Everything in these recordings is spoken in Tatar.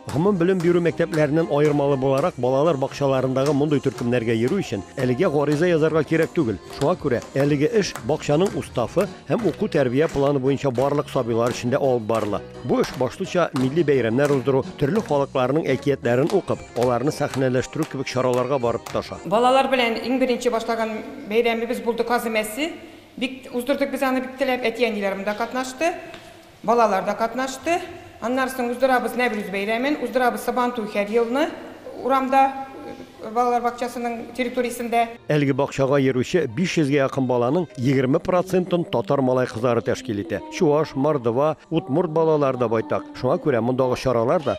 Гомум белем бирү мәктәпләреннән аермалы буларак, балалар бакчаларындагы мондый төркемнәргә йөрү өчен әлегә гариза язарга кирәк түгел. Шуңа күрә әлеге эш бакчаның уставы һәм уку-тәрбия планы буенча барлык сабыйлар өчен дә алып барыла. Бу эш башлыча милли бәйрәмнәр уздыру, төрле халыкларның әкиятләрен укып, аларны сәхнәләштерү кебек чараларга барып тоташа. Балалар белән иң беренче башлаган бәйрәмебез булды Казы мәсе. Бик уздырдык без аны бик теләп, әти-әниләрем дә катнашты. Балалар да катнашты. Аннары соң уздырабыз Нәврүз бәйрәмен, уздырабыз Сабантуй һәр елны урамда, балалар бакчасының территориясендә. Әлеге бакчага йөрүче 500 гә якын баланың егерме процентын татар малай-кызлары тәшкил итә. Чуаш, мордва, удмурт балалары да байтак. Шуңа күрә мондагы чаралар да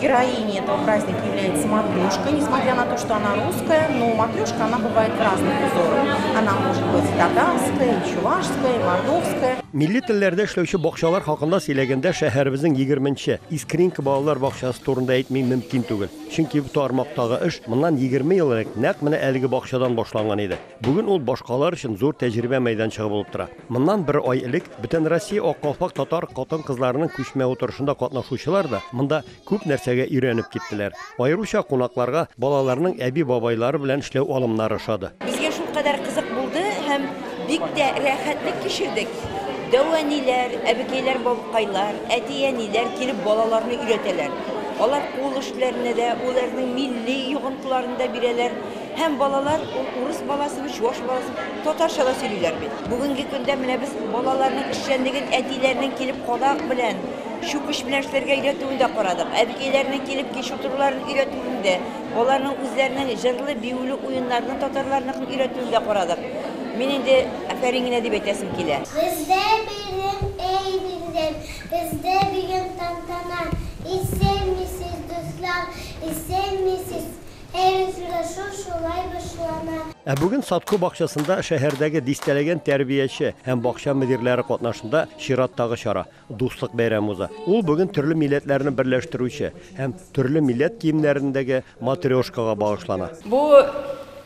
Героиня этого праздника является матрешка. Несмотря на то, что она русская, но матрешка, она бывает в разных узорах. Она может быть татарская, и чувашская, и мордовская. Милли телләрдә эшләүче бакчалар хакында сөйләгәндә шәһәребезнең 20-нче Искринка балалар бакчасы турында әйтми мөмкин түгел. Чөнки бу тармактагы эш моннан 20 ел элек нәкъ менә әлеге бакчадан башланган иде. Бүген ул башкалар өчен зур тәҗрибә мәйданчыгы булып тора. Моннан бер ай элек Бөтенроссия Ак калфак татар хатын-кызларының күчмә утырышында катнашучылар да монда күп нәрсәгә өйрәнеп киттеләр. Аеруча кунакларга балаларның әби-бабайлары белән эшләү алымнары ошады. Безгә шулкадәр кызык булды һәм бик тә рәхәтлек кичердек. Дәү-әниләр, әбекәйләр-бабкайлар, әти-әниләр килеп балаларны өйрәтәләр. Алар кул эшләренә дә, уләрнең милли йогынтыларын да бирәләр. Һәм балалар ул урыс баласымы, чуваш баласымы, татарча да сөйлиләр бит. Бүгенге көндә менә без балаларның эшчәнлеген әтиләренең килеп кадак белән, чүкеч белән эшләргә өйрәтүен дә карадык. Әбекәйләренең килеп кич утыруларын өйрәтүен дә, аларның үзләренең җырлы, биюле уеннарны татарларныкын өйрәтүен дә карадык. Мин инде афәрин генә дип әйтәсем килә. Бездә бирем, әй бирем, Бездә бирем тантана, Исәнмесез, дуслар, исәнмесез! Әй, очрашу шулай башлана. Ә бүген Садко бакчасында шәһәрдәге дистәләгән тәрбияче һәм бакча мөдирләре катнашында чираттагы чара, Дуслык бәйрәме уза. Ул бүген төрле милләтләрне берләштерүче һәм төрле милләт киемнәрендәге матрешкага багышлана. Бу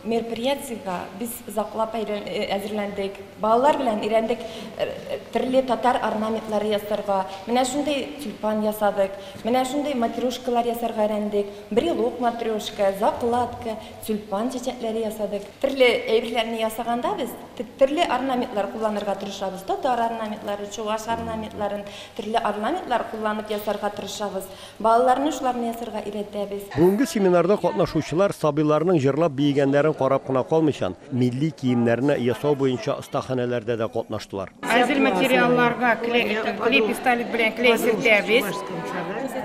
мероприятиегә без озаклап әзерләндек. Балалар белән өйрәндек төрле татар орнаментлары ясарга. Менә шундый тюльпан ясадык, менә шундый матрешкалар ясарга өйрәндек. Брелок, матрешка, закладка, тюльпан чәчәкләре ясадык. Төрле әйберләрне ясаганда без төрле орнаментлар кулланырга тырышабыз. Татар орнаментлары, чуваш орнаментларын, төрле орнаментлар кулланып ясарга тырышабыз. Балаларны шуларны ясарга өйрәтәбез. Бүгенге семинарда катнашучылар сабыйларның җырлап биегәннәрен карап кына калмыйчан, Милли киемнәрне ясау буенча остаханәләрдә дә катнаштылар. Әзер материалларга клей пистолет белән клей сөртәбез.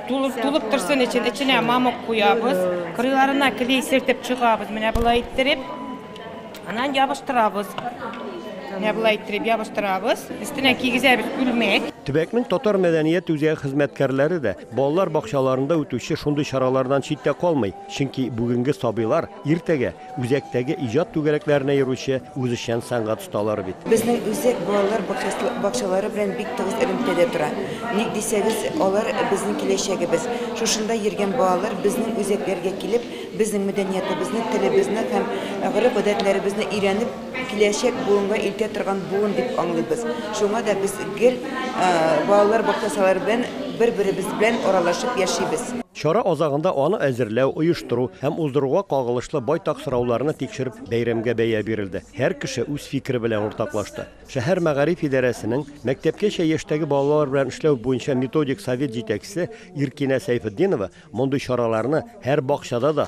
Тулып, тулып торсын өчен эченә мамык куябыз. Кырыйларына клей сөртеп чыгабыз, менә болай иттереп. Аннан ябыштырабыз. Менә болай иттереп ябыштырабыз. Өстенә кигезәбез күлмәк. Төбәкнең татар мәдәният үзәге хезмәткәрләре дә балалар бакчаларында үтүче шундый чаралардан читтә калмый, чөнки бүгенге сабыйлар иртәгә Үзәктәге иҗат түгәрәкләренә йөрүче үзешчән сәнгать осталары бит. Безнең үзәк балалар бакчалары белән бик тыгыз элемтәдә тора. Ник дисәгез, алар, безнең киләчәгебез. Шушында йөргән балалар безнең үзәкләргә килеп, безнең мәдәниятебезне, телебезне һәм гореф-гадәтләребезне өйрәнеп, киләчәк буынга илтә торган буын дип аңлыйбыз. Шуңа да без гел балалар бакчасалары белән бер-беребез белән аралашып яшибез. Чара азагында аны әзерләү, оештыру һәм уздыруга кагылышлы байтак сорауларны тикшереп, бәйрәмгә бәя бирелде. Һәр кеше үз фикере белән уртаклашты. Шәһәр мәгариф идарәсенең мәктәпкәчә яшьтәге балалар белән эшләү буенча методик совет җитәкчесе Иркинә Сәйфетдинова мондый чараларны һәр бакчада да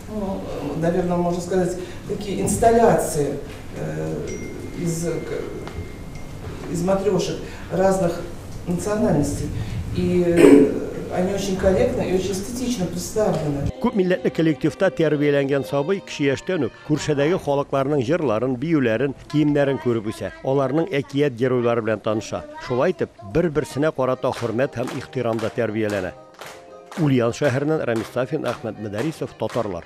Ну, наверное, можно сказать, такие инсталляции э, из, из матрешек разных национальностей. И э, они очень корректно и очень эстетично представлены. Күп милләтле коллективта тәрбияләнгән сабый кеше яшьтән үк күршедәге халыкларның җырларын, биюләрен, киемнәрен күреп үсә. Аларның әкият геройлары белән таныша. Шулай итеп, бер-берсенә карата хөрмәт һәм ихтирамда тәрбияләнә. Ульян шәһәреннән Рамис Сафин, Әхмәт Мөдәрисов, татарлар.